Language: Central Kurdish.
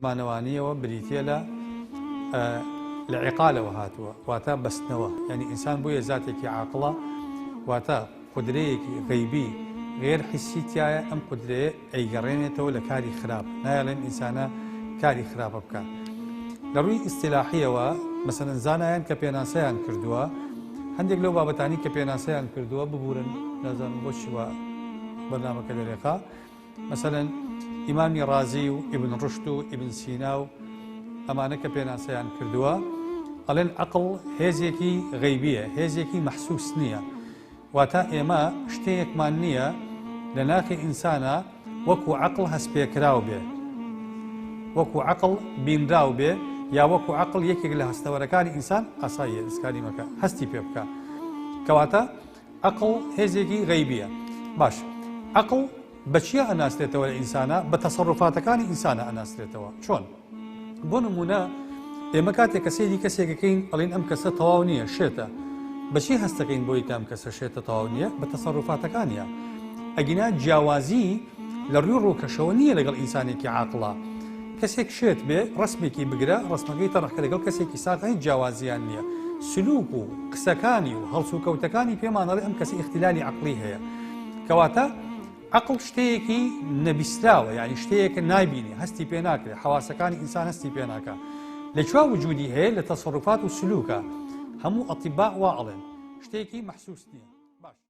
زمانەوانییەوە بریتییە لە، ە، لە، عقا، لەوە هاتووە واتە بەستنەوە، یانی ئینسان بۆیە زاتێکی عاقڵە واتە قودرەیەکی غەیبی غەیر حسی تیایە ئەم قودرەیە ئەیگەڕێنێتەوە لە کاری خراپ نایەڵێم ئینسانە کاری خراپە بکات لە ڕووی ئیستیلاحییەوە مەسەلەن زانایان کە پێناسەیان کردووە هەندێک لەو بابەتانی کە پێناسەیان کردووە ببورن نازانم بۆچی وا بەرنامەکە دەرێقا مەسەلەن ئیمامی ڕازی و ئیبن ڕوشد و ئیبن سینا و ئەمانە کە پێناسەیان کردووە ئەڵێن عەقڵ هێزێکی غەیبییە هێزێکی مەحسوس نییە واتا ئێمە شتەیەکمان نییە لە ناخی ئینسانە وەکو عقل هەستپێکراو بێ وەکو عقل بینراو بێ یا وەکو عقل یەکێک لە هەستەوەرەکانی ئینسان ئاساییە ئسکانیمەکە هەستی پێ بکە کەواتە عەقڵ هێزێکی غەیبییە. باش عەقڵ بە چیا ئەناسرێتەوە لە ئینسانا؟ بە تەسەروفاتەکانی ئینسانا ئەناسرێتەوە. چۆن؟ بۆ نموونە ئێمە کاتێک کە سەیری کەسێکەکەین ئەڵین ئەم کەسە تەواو نییە، شێتە. بەچی هەستەکەین بۆی کە ئەم کەسە شێتە تەواو نییە؟ بە تەسەروفاتەکانیە. ئەگینا جیاوازی لە ڕوی ڕوکەشەوە نیە لەگەڵ ئینسانێکی عاقڵا کەسێک شێت بێ ڕەسمێکی بگرە ڕەسمەکەی تەڕح کە لەگەڵ کەسێکی ساغا هیچ جیاوازیان نیە سلوک و قسەکانی و هەڵسوکەوتەکانی پێمان ئەڵێ ئەم کەسە ئیختیلالی عەقڵی هەیە کەواتە عەقڵ شتەیەکی نەبیسراوە یعنی شتەیەکە نایبینی هەستی پێ ناکرێت حەواسەکانی ئینسان هەستی پێ ناکە لە چوا وجودی هەیە لە تەسەڕوفات و سلوکە هەموو ئەتیبا وا ئەڵێن شتێکی مەحسوس نییە